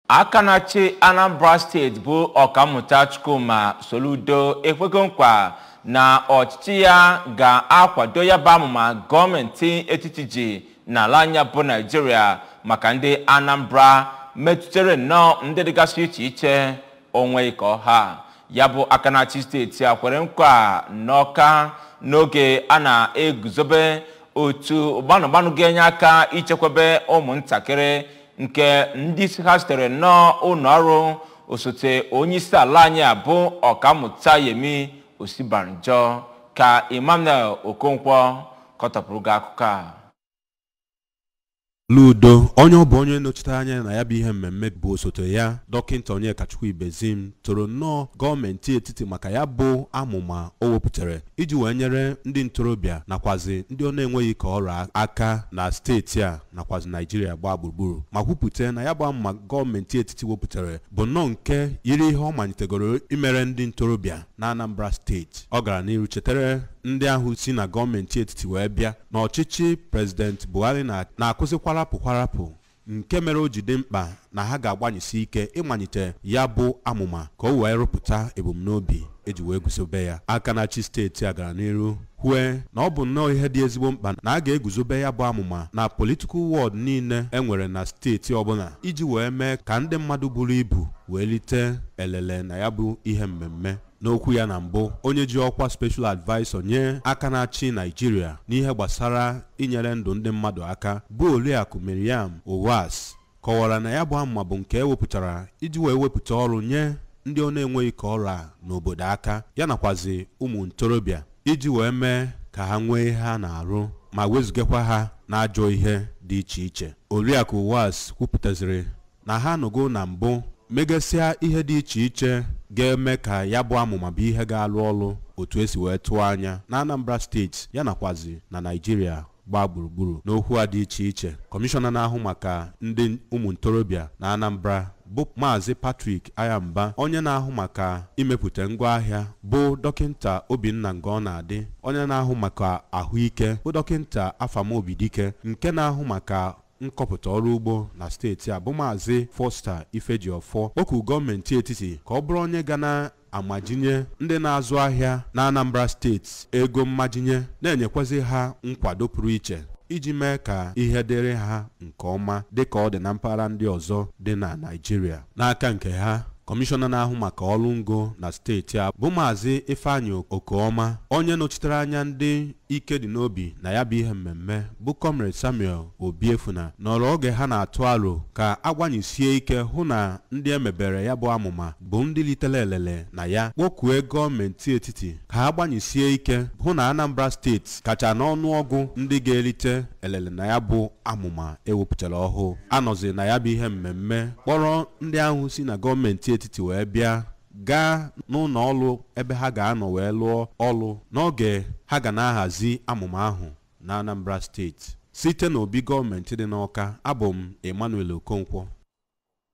aka na-achị anambra steeti bụ ọkammụta chukwuma soludo ekwego nkwa na ọchịchị ya ga-akwado ya bụ amụma gọọmenti etiti ji n'ala anyị a bụ naijiria maka ndị anambra metụtara nnọọ ndị dịgasị iche iche o nweghị ka ọ ha ya bụ aka na-achị steeti a kwere nkwa n'ọka n'oge a na-eguzobe otu gbanụgbanụ ga-enye aka ichekwebe ụmụntakịrị nke ndị isi ha sitere n'ụlọ ọrụ osote onye isi ala anyị a bụ ọkammụta yemi osinbajo ka emmanuel okonkwo kọtọpụrụ gị akụkọ a soludo onye ọ bụ onye nọchitere anya na ya bụ ihe mmemme bụ osote ya dọkịnta onyekachukwu ibezim toro nnọọ gọọmenti etiti maka ya bụ amụma o wepụtara iji wee nyere ndị ntorobịa nakwazi ndị ọ na-enweghị ka ọrụ aka na steeti a nakwazi naijiria gbaa gburugburu ma kwupụta na ya bụ amụma gọọmenti etiti wepụtara bụ nnọọ nke yiri ihe ọ manyitegoro imere ndị ntorobịa na anambra steeti ọ gara n'iru chetara ndị ahụ si na gọọmenti etiti wee bịa na ọchịchị prezident buhari na-akụzi kwarapụ kwarapụ nke mere o ji dị mkpa na ha ga-agbanyesi ike ịmanyite ya bụ amụma ka o wee rụpụta ebumnobi e ji wee guzobe ya aka na-achị steeti a gara n'iru kwue na ọ bụ nnọọ ihe dị ezigbo mkpa na a ga-eguzobe ya bụ amụma na political ward niile e nwere na steeti ọbụla iji wee mee ka ndị mmadụ buru ibu wee lite elele na ya bụ ihe mmemme n'okwu ya na mbụ onye ji ọkwa special advisor nye aka na-achị naijiria n'ihe gbasara inyere ndụ ndị mmadụ aka bụ oriakụ miriam uwais kọwara na ya bụ amụma bụ nke e wepụtara iji wee wepụta ọrụ nye ndị ọ na-enweghị ka ọ ra ha n'obodo aka ya nakwazi ụmụ ntorobịa iji wee mee ka ha nwee ihe ha na-arụ ma wezugakwa ha n'ajọ ihe dị iche iche oriakụ Uwais kwupụtaziri na ha anọgo na mbụ megasịa ihe dị iche iche ga-eme ka ya bụ amụma bụ ihe ga-alụ ọrụ otu e si wee tụọ anya na Anambra steeti ya nakwazi na Naịjirịa gbaa gburugburu n'okwu ha dị iche iche kọmishọna na-ahụ maka ndị ụmụ ntorobịa na Anambra bụ maazị Patrick Aghamba onye na-ahụ maka imepụta ngwaahịa bụ dọkịnta Obinna Ngọnadị onye na-ahụ maka ahụike bụ dọkịnta Afam Obidike nke na-ahụ maka nkọpụta ọrụ ugbo na steeti a bụ maazị Foster Ifejiọfọ kpọkuru gọọmenti etiti ka ọ bụrụ onye ga na amajinye ndị na-azụ ahịa na Anambra steeti ego mmajinye na-enyekwazị ha nkwado pụrụ iche iji mee ka ihe dịrị ha nke ọma dịka ọ dị na mpaghara ndị ọzọ dị na Naịjirịa n'aka nke ha kọmishọna na-ahụ maka ọrụ ngo na steeti a bụ maazị Ifeanyi Okeọma onye nọchitere anya ndị ike dị n'obi na ya bụ ihe mmemme bụ comrade Samuel Obiefuna nọrọ oge ha na-atụ aro ka a gbanyesie ike hụ na ndị e mebere ya bụ amụma bụ ndị litere elele na ya kpọkue gọọmenti etiti ka ha gbanyesie ike hụ na Anambra steeti kacha n'ọnụọgụ ndị ga-elite elele na ya bụ amụma e wepụtara ọhụụ a nọzi na ya bụ ihe mmemme kpọrọ ndị ahụ si na gọọmenti etiti wee bịa gaa n'ụlọ ọrụ ebe ha ga-anọ wee lụọ ọrụ n'oge ha ga na-ahazi amụma ahụ na Anambra steeti site n'obi gọọmenti dị n'Awka abụ m Emmanuel Okonkwo